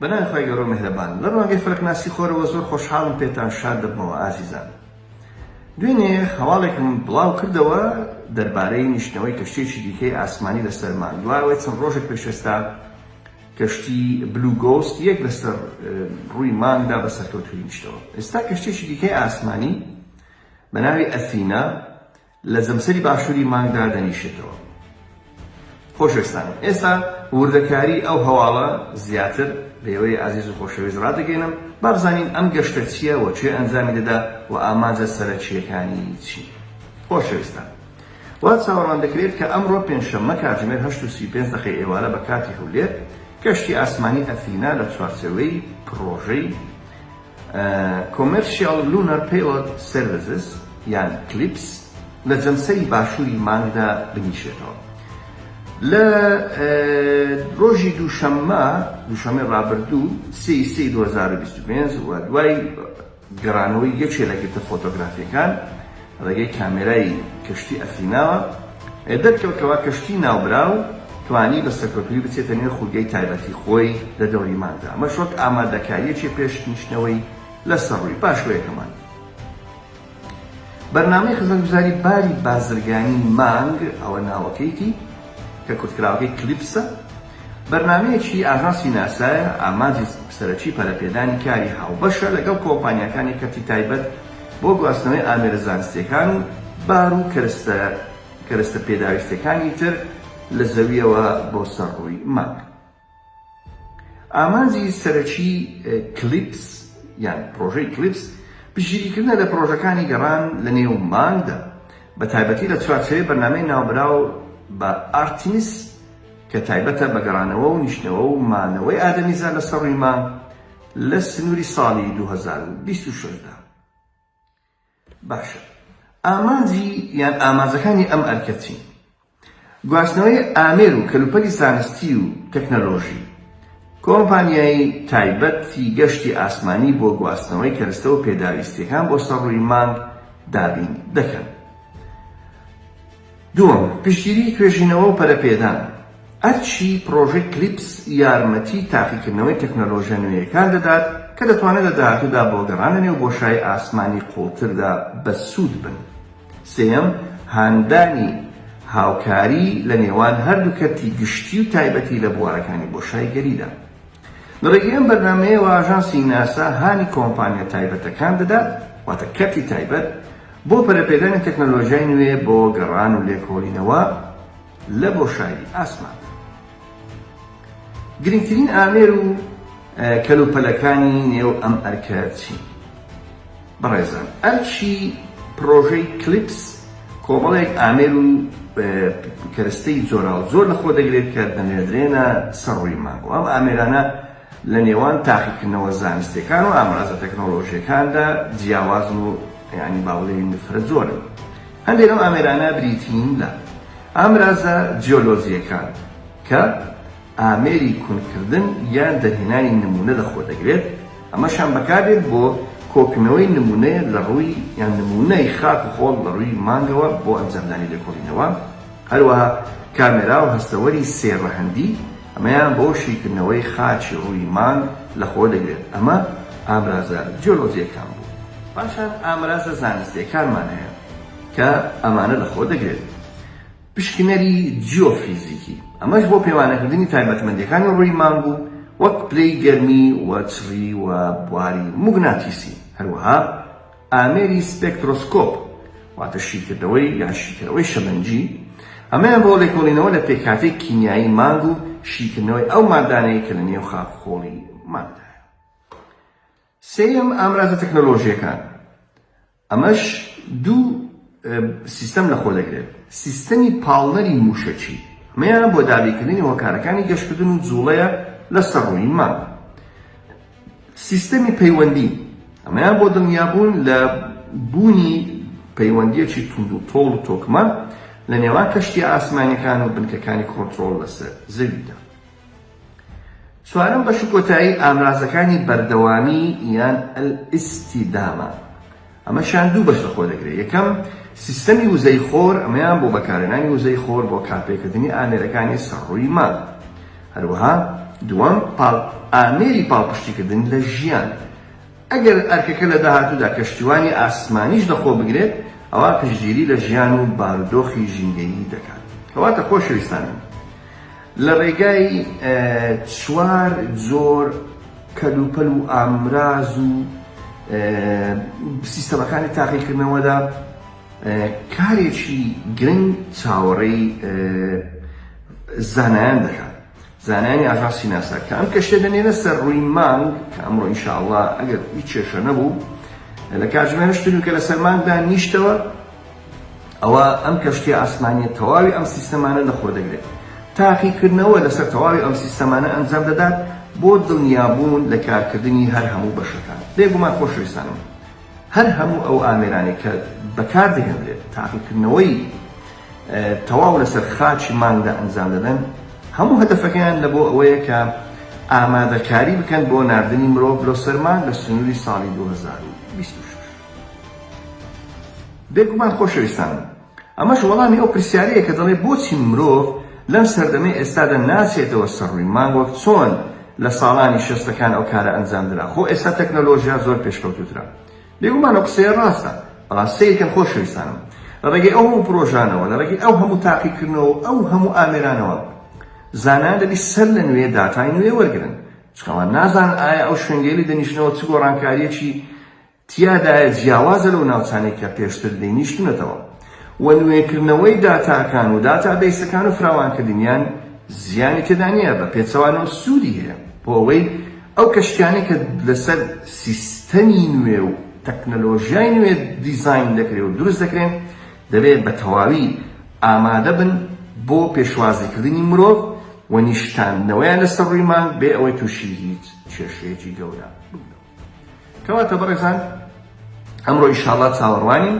بەناوی خوای گەورە و میهرەبان. لە ڕوانگەی فەلەکناسی خۆرەوە زۆر خۆشحاڵم پێتان شاد دەبمەوە ئازیزان. دوێنێ هەواڵێکم بڵاو کردەوە دەربارەی نیشتنەوەی کەشتیەکی دیکەی ئاسمانی لەسەر مانگ دوای ئەوەی چەند ڕۆژێک پێش ئێستا کەشتی بلو گۆست یەک لەسەر ڕووی مانگدا بە سەرکەوتوویی نیشتەوە ئێستا کەشتیەکی دیکەی ئاسمانی بە ناوی ئەثینا لە جەمسەری باشووری مانگ دادەنیشێتەوە. خۆشەویستانم ئێستا وردەکاری ئەو هەواڵە زیاتر لێوەی ئازیز و خۆشەویست ڕادەگەینم با بزانین ئەم گەشتە چیە و کێ ئەنجامی دەدا و ئامانجە سەرەکییەکانی چین؟ خۆشەویستان وا چاوەڕوان دەکرێت کە ئەمڕۆ پێنجشەممە کاتژمێر هەشت و سی و پێنج دەقەی ئێوارە بە کاتی هەولێر کەشتی ئاسمانی ئەثینا لە چوارچێوەی پڕۆژەی Commercial Lunar Payload Services یان کلیپس لە جەمسەری باشووری مانگدا بنیشێتەوە. لە ڕۆژی دووشەممە، دووشەممەی ڕابردوو، سێ ی سێ ی دوو هەزار و بیست و پێنج، و دوای گەڕانەوەی یەکێ لە گرتە فۆتۆگرافییەکان، ڕێگەی کامێرای کەشتی ئەثیناوە دەرکەوت کەوا کەشتی ناوبراو توانی بە سەرکەوتوویی بچێتە نێو خولگەی تایبەتی خۆی لە دەوری مانگدا، ئەمەش وەک ئامادەکارییەکی پێش نیشتنەوەی لە سەر ڕووی، پاشوەیەکە مانگ. بەرنامەی خزمەتگوزاری باری بازرگانی مانگ ئەوە ناوەکەیتی، کە کورتکراوەکەی کلیپسە، بەرنامەیەکی ئاژانسی ناسایە، ئامانجی سەرەکی پەرەپێدانی کاری هاوبەشە لەگەڵ کۆمپانیاکانی کەرتی تایبەت، بۆ گواستنەوەی ئامێرە زانستییەکان و بار و کەرستە کەرەستە پێداویستەکانی تر لە زەوییەوە بۆ سەر ڕووی مانگ. ئامانجی سەرەکی کلیپس یان پرۆژەی کلیپس پشتگیریکردنە لە پرۆژەکانی گەڕان لە نێو مانگدا، بە تایبەتی لە چوارچێوەی بەرنامەی ناوبراو بە ئارتیمیس کە تایبەتە بە گەڕانەوە و نیشتنەوە و مانەوەی ئادەمیزاد لەسەر ڕووی مانگ، لە سنوری ساڵی دوو هەزار و بیست و شەش دا. باشە ئامانجی یان ئامانجەکانی ئەم ئەرکە چین؟ گواستنەوەی ئامێر و کەلوپەلی زانستی و تەکنەلۆژی، کۆمپانیای تایبەتی گەشتی ئاسمانی بۆ گواستنەوەی کەرستە و پێداویستییەکان بۆ سەر ڕووی مانگ دابین دەکەن. دووەم، پشتگیریی توێژینەوە و پەرەپێدان، ئەرکی پڕۆژەی کلیپس یارمەتیی تاقیکردنەوەی تەکنەلۆژییە نوێیەکان دەدات کە دەتوانن لە داهاتوودا بۆ گەڕان لەنێو بۆشای ئاسمانی قووڵتردا بەسوود بن. سێیەم، هاندانی هاوکاری لە نێوان هەردوو کەرتی گشتی و تایبەتی لە بوارەکانی بۆشایگەریدا. لە ڕێگەی ئەم بەرنامەیەوە ئاژانسی ناسا هانی کۆمپانیا تایبەتەکان دەدات، واتە کەرتی تایبەت، بۆ پەرەپێدانی تەکنەلۆژیای نوێ بۆ گەڕان و لێکۆڵینەوە لە بۆشایی ئاسماندا. گرنگترین ئامێر و کەلوپەلەکانی نێو ئەم ئەرکە چین؟ بەڕێزان ئەرکی پرۆژەی کلیپس کۆمەڵێک ئامێر و کەرستەی جۆراوجۆر لە خۆ دەگرێت کە دەنێردرێنە سەر ڕووی مانگ و ئەم ئامێرانە لە نێوان تاقیکردنەوە زانستیەکان و ئامرازە تەکنۆلۆژیەکاندا جیاوازن و یانی با بڵێین فرە جۆرن هەندێک لەم ئامێرانە بریتین لە ئامرازە جیۆلۆجیەکان کە ئامێری کونکردن یان دەرهێنانی نموونە لەخۆدەگرێت، ئەمەشیان بەکاردێت بۆ کۆکردنەوەی نموونەیە لەڕووی یان نموونەی خاک و خۆڵ لەڕووی مانگەوە بۆ ئەنجامدانی لێکۆڵینەوە، هەروەها کامێرا و هەستەوەری سێ ڕەهەندی، ئەمەیان بۆ شیکردنەوەی خاچی ڕووی مانگ لەخۆدەگرێت، ئەمە ئامرازە جیۆلۆجییەکان بوون. پاشان ئامرازە زانستییەکانمان هەیە کە ئەمانە لەخۆدەگرێت. پشکنەری جیۆفیزیکی، ئەمەش بۆ پێوانەکردنی تایبەتمەندییەکانی ڕووی مانگ و وەک پلەی گەرمی و چڕی و بواری موگناتیسی، هەروەها ئامێری سپێکترۆسکۆپ واتە شیکردنەوەی یان شیکەرەوەی شەمەنجی، ئەمەیان بۆ لێکۆڵینەوە لە پێکهاتەی کیمیایی مانگ و شیکردنەوەی ئەو ماددانەی کە لە نێو خاک و خۆڵی مانگدایە. سێیەم، ئامرازە تەکنۆلۆژییەکان، ئەمەش دوو سیستەم لەخۆ دەگرێت، سیستەمی پاڵنەری مووشەکی، ئەمەیان بۆ دابینکردنی هۆکارەکانی گەشکردن و جووڵەیە لەسەر ڕووی مانگ. سیستەمی پەیوەندی، ئەمەیان بۆ دڵنیابوون لە بوونی پەیوەندییەکی توندوتۆڵ و تۆکمە لە نێوان کەشتییە ئاسمانییەکان و بنکەکانی کۆنترۆڵ لەسەر زەویدا. چوارەم بەش و کۆتایی ئامرازەکانی بەردەوامی یان الاستدامە ئەمەشیان دوو بەش لەخۆ دەگرێت، یەکەم، سیستەمی وزەی خۆر، ئەمەیان بۆ بەکارهێنانی وزەی خۆر بۆ کارپێکردنی ئامێرەکانی سەڕووی مانگ. هەروەها دووەم، ئامێری پاڵپشتیکردن لە ژیان، ئەگەر ئەرکەکە لە داهاتوودا کەشتیوانی ئاسمانیش لەخۆبگرێت، ئەوا پشتگیری لە ژیان و بارودۆخی ژینگەیی دەکات. کەواتە خۆشەویستانم، لە ڕێگای چوار جۆر کەلوپەل و ئامراز و سیستەمەکانی تاقیکردنەوەدا، کارێکی گرنگ چاوەڕێی زانایان دەکات. زانایانی ئاژانسی ناسا کە ئەم کەشتیە دەنێنە سەر ڕووی مانگ کە ئەمڕۆ ان شاء اللە ئەگەر هیچ کێشە نەبوو لە کاتژمێر هەشت نیو کە لەسەر مانگدا نیشتەوە ئەوە ئەم کەشتیە ئاسمانیە تەواوی ئەم سیستەمانە لەخۆ دەگرێت تاقیکردنەوە لەسەر تەواوی ئەم سیستەمانە ئەنجام دەدات بۆ دڵنیابوون لە کارکردنی هەر هەموو بەشەکان بێگومان خۆشەویستانم هەر هەموو ئەو ئامێرانەی کە بەکاردەهێنرێت تاقیکردنەوەی تەواو لەسەر خاچی مانگدا ئەنجام دەدەن، هەموو هەدەفەکەیان لەبۆ ئەوەیە کە ئامادەکاری بکەن بۆ ناردنی مرۆڤ لۆ سەر مانگ لە سنووری ساڵی دوو هەزار و بیست و شەش. بێگومان خۆشەویستانم ئەمەش وەڵامی ئەو پرسیارەیە کە دەڵێ بۆچی مرۆڤ لەم سەردەمەی ئێستادا ناچێتەوە سەر ڕووی مانگ وەک چۆن لە ساڵانی شەستەکان ئەو کارە ئەنجام درا خۆ ئێستا تەکنەلۆژیا زۆر پێشکەوتووترە. بێگومان ئەو قسەیە ڕاستە، بەڵام سەیر کەن خۆشەویستانم، لە ڕێگەی ئەو هەموو پرۆژانەوە، لە ڕێگەی ئەو هەموو تاقیکردنەوە و ئەو هەموو ئامێرانەوە، زانایان دەبی سەر لە نوێ داتای نوێ وەرگرن، چونکە ئەوان نازانن ئایا ئەو شوێنگەیە لێ دەنیشنەوە چ گۆڕانکارییەکی تیادایە جیاوازە لەو ناوچانەی کە پێشتر لێی نیشتونەتەوە. و نوێکردنەوەی داتاکان و داتابەیسەکان و فراوانکردنیان زیانی تێدا نییە، بە پێچەوانەوە سوودی هەیە بۆ ئەوەی ئەو کەشتیانەی کە لەسەر سیستەمی نوێ و تەکنەلۆژیای نوێ دیزاین دەکرێ و دروست دەکرێن دەبێ بە تەواوی ئامادە بن بۆ پێشوازیکردنی مرۆڤ و نیشتاندنەوەیان لەسەر ڕووی مانگ بێ ئەوەی تووشی هیچ کێشەیەکی گەورە ببنەوە. کەواتە بەڕێزان ئەمڕۆ ئیشاڵڵا چاوەڕوانین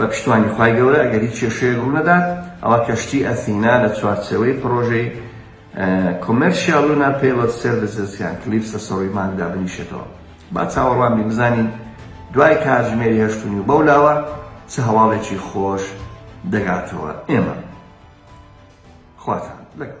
بە پشتوانی خوای گەورە ئەگەر هیچ کێشەیەک ڕوونەدات ئەوا کەشتی ئەثینا لە چوارچێوەی پڕۆژەی Commercial Lunar Payload Services یان کلیپس لە سەڕووی مانگ دابنیشێتەوە با چاوەڕوان بین بزانین دوای کاتژمێری هەشت و نیو بەولاوە چ هەواڵێکی خۆش دەگاتەوە ئێمە خواتان لەگەڵ.